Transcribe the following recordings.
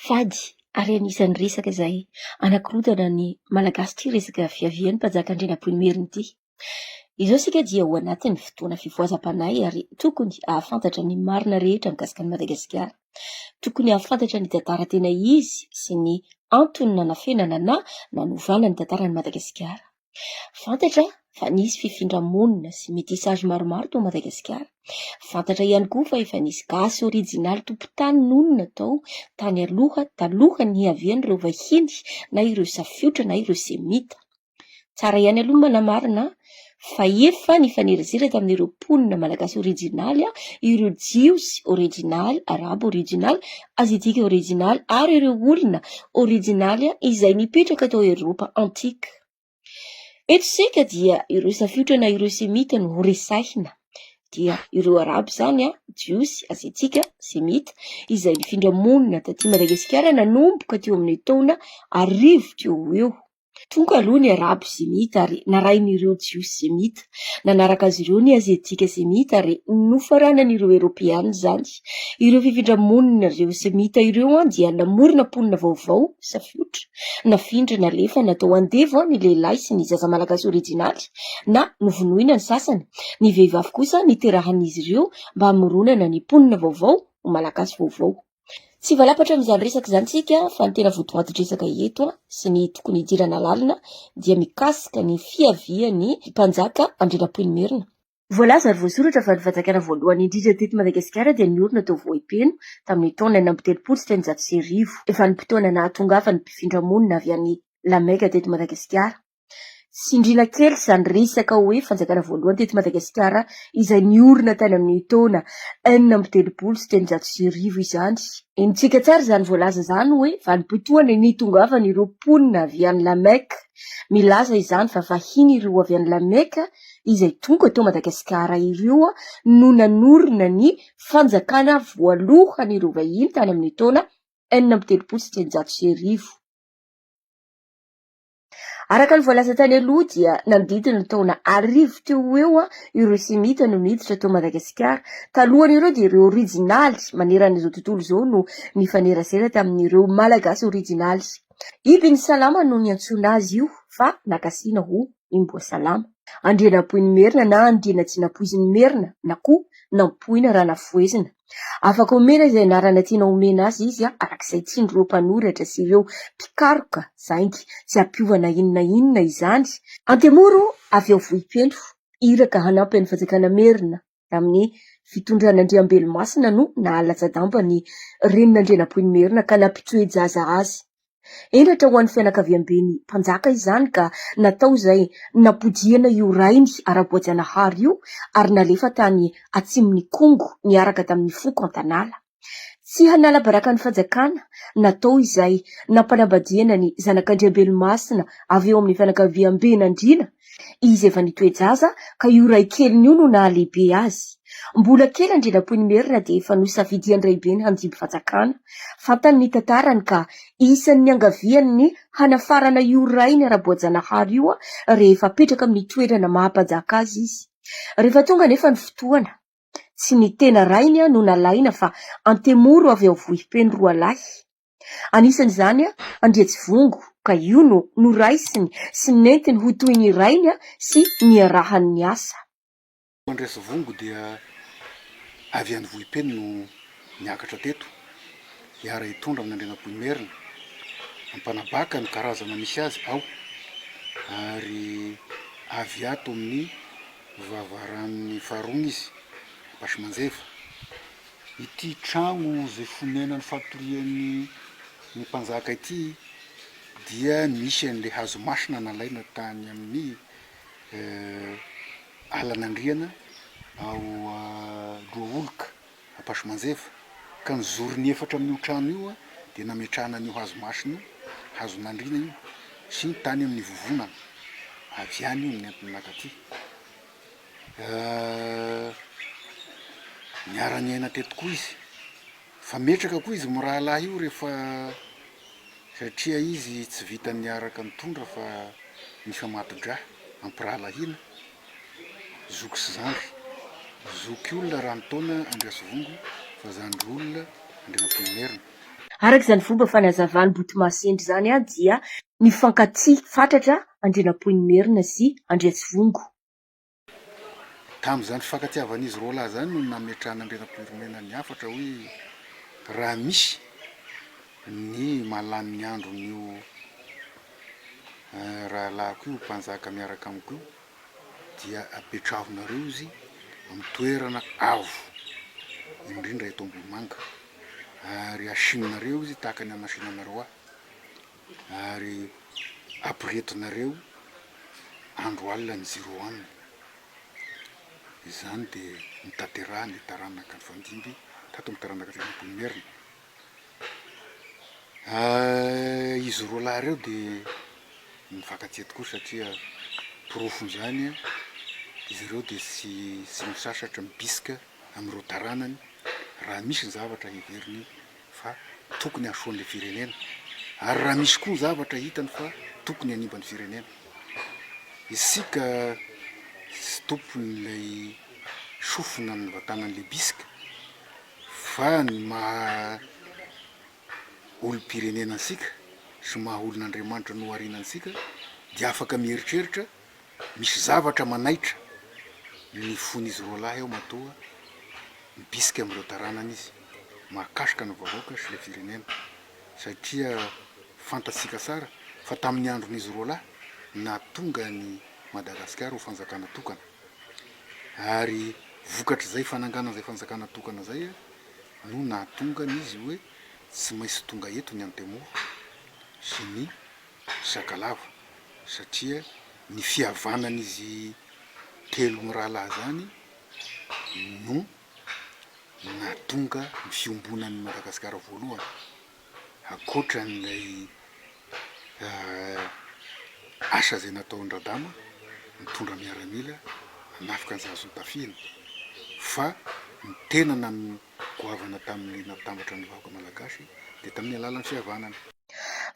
Fady ary anisan'ny resaka izay anakorontana ny Malagasy ity resaka fiavian'ny Mpanjaka Andrianampoinimerina ity. Izao isika dia ao anatin'ny fotoana fivoazam-panahy ary tokony hahafantatra ny marina rehetra mikasika an'i Madagasikara. Tokony hahafantatra ny tantara tena izy sy ny antony nanafenana na nanovana ny tantaran'i Madagasikara. Fantatra fa nisy fifindra-monina sy métissage maromaro tao Madagasikara. Fantatra ihany koa fa efa nisy gasy orijinaly tompon-tany nonina tao tany aloha talohan'ny nihavian'ireo vahiny na ireo safiotra na ireo semita. Tsara ihany aloha ny manamarina fa efa nifanerasera tamin'ireo mponina malagasy orijinaly ireo jiosy orijinaly, arabo orijinaly Aziatika Orijinaly ary ireo olona orijinaly izay nipetraka tao Eropa Antika. Eto isika dia ireo safiotra na ireo Semita no resahina. Dia ireo Arabo izany, Jiosy, Aziatika, Semita, izay nifindra monina taty Madagasikara nanomboka teo amin'ny taona arivo teo ho eo. Foko aloha ny Arabo semita ary narahin'ireo Jiosy semita. Nanaraka azy ireo ny Aziatika semita ary nofaranan'ireo Eoropeana izany. Ireo fifindra-monina ireo semita ireo dia namorona mponina vaovao, safiotra, nafindra, nalefa, natao andevo ny lehilahy sy ny zaza malagasy orijinaly na novonoina ny sasany. Ny vehivavy kosa niterahan'izy ireo mba hamoronana ny mponina vaovao ho malagasy vaovao. Tsy hivalapatra amin'izany resaka izany isika fa ny tena votoatin-dresaka eto sy ny tokony hidirana lalina dia mikasika ny fiavian'ny mpanjaka Andrianampoinimerina. Voalaza ary voasoratra fa ny fanjakana voalohany indrindra teto Madagasikara dia niorina tao Vohipeno tamin'ny taona enina amby telopolo sy telonjato sy arivo. Vanim-potoana nahatongavany mpifindra monina avy any La Mecque teto Madagasikara. Tsindriana kely izany resaka hoe fanjakana voalohany teto Madagasikara izay niorina tany amin'ny taona enina amby telopolo sy telonjato sy arivo izany. Henontsika tsara izany voalaza izany hoe vanim-potoana nitongavan'ireo mponina avy any La Mecque. Milaza izany fa vahiny ireo avy any La Mecque izay tonga tao Madagasikara ireo no nanorina ny fanjakana voalohan'ireo vahiny tany amin'ny taona enina amby telopolo sy telonjato sy arivo. Araka ny voalaza tany aloha dia nandidy ny taona arivo teo ho eo ireo semita no niditra tao Madagasikara. Talohan'ireo dia ireo orijinaly maneran'izao tontolo izao no nifanerasera tamin'ireo Malagasy orijinaly. Ibn Salama no niantsoana azy io fa nakasihina ho Imboasalama. Andrianampoinimerina na Andrianajinapoizinmerina na koa Nampoina raha nafohezina. Afaka omena izay anarana tianao omena azy izy araka izay tian'ireo mpanoratra sy ireo mpikaroka zaingy, tsy hampiova na inona na inona izany. Antemoro avy ao Vohipeno, iraka hanampy an'i Fanjakana Merina tamin'ny fitondran'Andriambelomasina no nahalatsa-damba ny renin'Andrianampoinimerina ka nampitsoe-jaza azy Henatra ho an'ny fianakaviamben'ny mpanjaka izany ka natao izay nampodiana io rainy ara-boajanahary io ary nalefa tany atsimon'i Kongo niaraka tamin'ny foko an-tanàla. Tsy hanala baraka ny fanjakana, natao izay nampanambadiana ny zanak'Andriambelomasina avy eo amin'ny fianakaviamben'Andriana Izy efa nitoe-jaza ka io raikeliny io no nahalehibe azy. Mbola kely Andrianampoinimerina dia efa nosafidian-draibeny handimby fanjakana. Fantany ny tantarany ka isan'ny niangaviany ny hanafarana io rainy ara-boajanahary io rehefa apetraka amin'ny toerana maha-mpanjaka azy izy. Rehefa tonga anefa ny fotoana, tsy ny tena rainy no nalaina fa Antemoro avy ao Vohipeno roalahy. Anisan' izany Andriantsivongo, ka io no noraisiny sy nentiny ho toy ny rainy sy niarahany niasa. Andriantsivongo dia avy any Vohipeno no niakatra teto hiara-hitondra amin' Andrianampoinimerina ampanabaka ny karazana misy azy ao, ary avy ato amin' ny vavaran' ny Faharony izy, Ambasimanjeva. Ity trano izay fonenany fatoriany ny mpanjaka ity dia misy an'ilay hazo masina nalaina tany amin'ny alan'Andriana ao Lohaoloka Ampasomanjeva ka ny zorony efatra amin'io trano io dia nametrahana an'io hazo masina io, hazon'Andriana io, sy tany amin'ny vovonana avy any io no nentina naka aty. Niara-niaina teto koa izy, fa metraka koa izy mirahalahy io rehefa satria izy tsy vitan'ny niaraka nitondra fa nifamato-dra, ampirahalahiana, zoky sy zandry. Zoky olona Rantaona Andriasivongo fa zandry olona Andrianampoinimerina. Araka izany fomba fanazavan'i Botomasendry izany dia nifankatia fatratra Andrianampoinimerina sy Andriasivongo. Tamin'izany fifankatiavan'izy roa lahy izany no nametrahan'Andrianampoinimerina ny hafatra hoe raha misy ny mahalany ny andron'io rahalahiko io mpanjaka miaraka amiko io dia apetrahonareo izy amin'ny toerana avo indrindra eto Ambohimanga ary asianareo izy tahaka ny hamasinanareo ahy. Ary aporetinareo andro alina ny zero one. Izany dia notanterahan'ny taranaka nifandimby tato amin'ny taranaka telo ambin'ny folo Merina. Izy roa lahy ireo dia nifankatia tokoa satria porofon'izany izy ireo dia tsy tsy misasatra mibisika amin'ireo taranany raha misy ny zavatra heveriny fa tokony hahasoan'ilay firenena ary raha misy koa zavatra hitany fa tokony hanimba ny firenena, isika tsy tompon'ilay sofina an'va tanan'ilay bisika fa ny maha olom-pirenena antsika sy maha olon'Andriamanitra nohariana antsika dia afaka mieritreritra Misy zavatra manaitra ny fon'izy roa lahy ao matoa mibisika amin'ireo taranany izy mahakasika ny vahoaka sy le firenena satria fantatsika tsara fa tamin'ny andron'izy roa lahy nahatonga an'i Madagasikara ho fanjakana tokana ary vokatr'izay fananganana izay fanjakana tokana izay no nahatonga an'izy hoe tsy maintsy tonga eto ny Antemoro sy ny Sakalava satria ny fihavanan'izy telo mirahalahy izany no nahatonga ny fiombonan'i Madagasikara voalohany, ankoatran'ilay asa izay nataon-dRadama nitondra miaramila hanafika ny Zazony tafihina fa ny tena nanomboka goavana tamin'ny nahatambatra ny vahoaka malagasy dia tamin'ny alalan'ny fihavanana.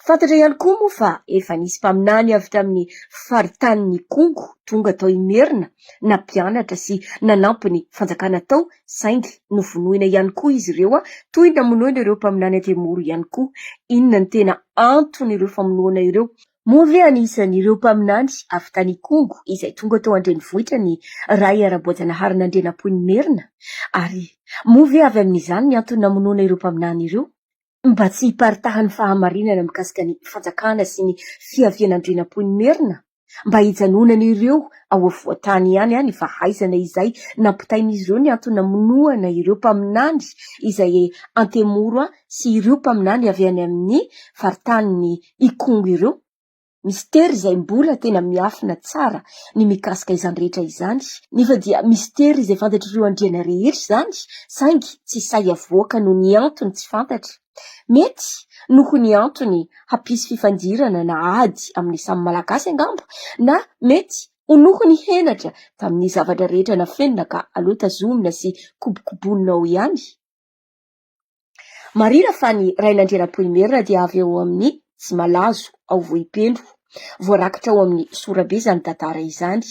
Fantatra ihany koa moa fa efa nisy mpaminany avy tamin'ny faritanin'Ikongo tonga tao Imerina nampianatra sy nanampy ny fanjakana tao saingy novonoina ihany koa izy ireo toy ny namonoina ireo mpaminany aty Moro ihany koa. Inona ny tena anton'ireo famonoana ireo? Moa ve anisan'ireo mpaminany avy tany Ikongo izay tonga tao an-drenivohitra ny Ray Araboajanahary Nandrianampoinimerina? Ary moa ve avy amin'izany ny antony namonoana ireo mpaminany ireo? Mba tsy hiparitahan'ny fahamarinana mikasika ny fanjakana sy ny fiavian'Andrianampoinimerina? Mba hijanonan'ireo ao afovoan-tany ihany any fa haizana izay nampitain'izy ireo ny antony namonoana ireo mpaminany izay Antemoro an sy ireo mpaminany avy any amin'ny faritanin'i Ikongo ireo. Misy tery izay mbola tena miafina tsara ny mikasika izany rehetra izany, nefa dia misy tery izay fantatr'ireo andriana rehetra izany saingy tsy sahy havoaka noho ny antony tsy fantatra. Mety noho ny antony hampisy fifandirana na ady amin'ny samy Malagasy angamba na mety ho noho ny henatra tamin'ny zavatra rehetra nafenina ka aleo tazomina sy kobokobonina ao ihany. Marihina fa ny Rainandrianampoinimerina dia avy ao amin'ny Tsimalazo, ao Vohipeno. Voarakitra ao amin'ny Sorabe izany tantara izany.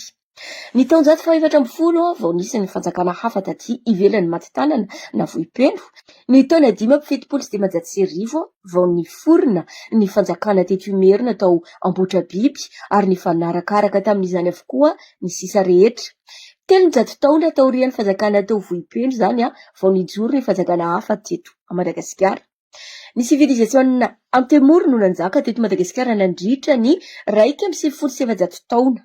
Ny taonjato fahefatra ambin'ny folo vao nisy ny fanjakana hafa taty ivelan'i Matitanana na Vohipeno. Ny taona dimy amby fitopolo sy dimanjato sy arivo vao niforona ny fanjakana teto Imerina tao Ambohitrabiby ary nifanarakaraka tamin'izany avokoa ny sisa rehetra. Telonjato taona taorian'ny fanjakana tao Vohipeno izany vao nijoro ny fanjakana hafa teto Madagasikara. Ny sivilizasiona Antemoro no nanjaka teto Madagasikara nandritra ny iraika amby sivifolo sy efajato taona,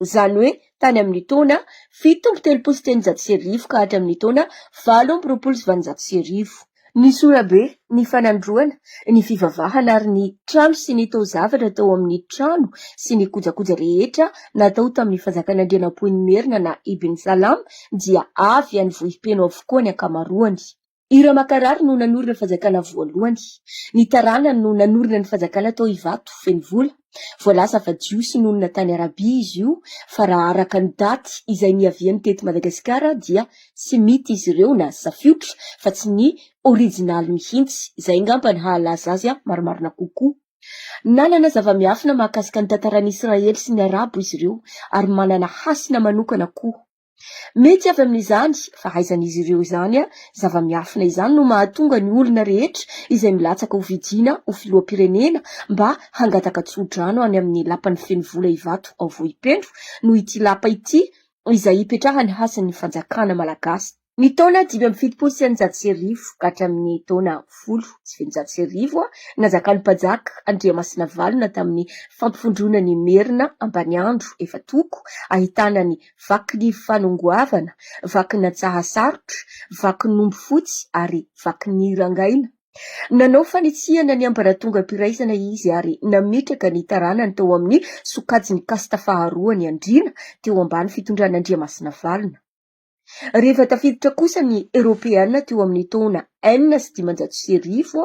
izany hoe tany amin' ny taona fito amby telopolo sy telonjato sy arivo ka hatramin' ny taona valo amby roapolo sy valonjato sy arivo. Ny sorabe, ny fanandroana, ny fivavahana ary ny trano sy ny taozavatra tao amin'ny trano sy ny kojakoja rehetra natao tamin'ny fanjakan'Andrianampoinimerina na Ibn Salam dia avy any Vohipeno avokoa ny ankamaroany. I Ramakarary no nanorina fanjakana voalohany. Ny taranany no nanorina ny fanjakana tao Ivato, Fenovola. Voalaza fa Jiosy nonina tany Arabia izy io, fa raha araka ny daty izay niaviany teto Madagasikara dia Semita izy ireo na Safiotra fa tsy ny originaly mihitsy. Izay angamba ny hahalaza azy marimarina kokoa. Nanana zava-miafina mahakasika ny tantaran'ny Israely sy ny Arabo izy ireo ary manana hasina manokana koa. Mety avy amin'izany fahaizan'izy ireo izany zava-miafina izany no mahatonga ny olona rehetra izay milatsaka ho vidiana ho filoham-pirenena mba hangataka tso-drano any amin'ny lapany feno vola Ivato ao Vohipeno noho ity lapa ity izay ipetrahan'ny hasin'ny fanjakana malagasy ny taona dimy amby fitopolo sy eninjato sy arivo ka hatramin'ny taona folo sy fitonjato sy arivo nanjakan'ny Mpanjaka Andriamasinavalona tamin'ny fampivondronan'i Merina Ambaniandro efa toko ahitana ny vaky ny fanongoavana, vaky ny antsahasarotra, vaky ny omby fotsy ary vaky ny rangaina. Nanao fanitsihana ny ambaratongam-piraisana izy ary nametraka ny taranany tao amin'ny sokajin'ny kasta faharoa ny Andriana teo ambany fitondran'Andriamasina Valona. Rehefa tafiditra kosa ny Eoropeana teo amin'ny taona enina sy dimanjato sy arivo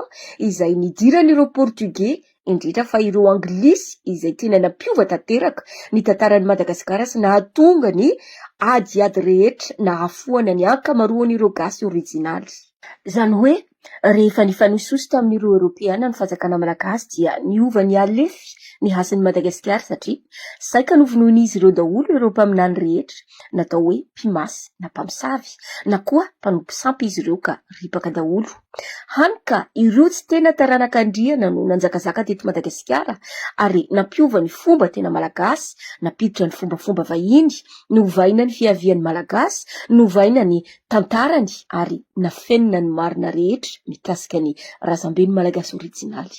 izay nidiran'ireo Portiogey indrindra fa ireo Anglisy izay tiana nampiova tanteraka ny tantaran'i Madagasikara sy nahatonga ny adiady rehetra nahafoana ny ankamaroan'ireo Gasy orijinaly. Izany hoe, rehefa nifanoisoso tamin'ireo Eoropeana ny fanjakana malagasy dia niova nihalefy ny hasin'i Madagasikara satria saika novonoin'izy ireo daholo ireo mpaminany rehetra natao hoe mpimasy na mpamosavy na koa mpanompo sampy izy ireo ka ripaka daholo Hany ka ireo tsy tena taranaka Andriana no nanjakazaka teto Madagasikara ary nampiova ny fomba tena malagasy, nampiditra ny fombafomba vahiny, novaina ny fiavian'ny Malagasy, novaina ny tantarany ary nafenina ny marina rehetra mikasika ny razamben'ny Malagasy orijinaly.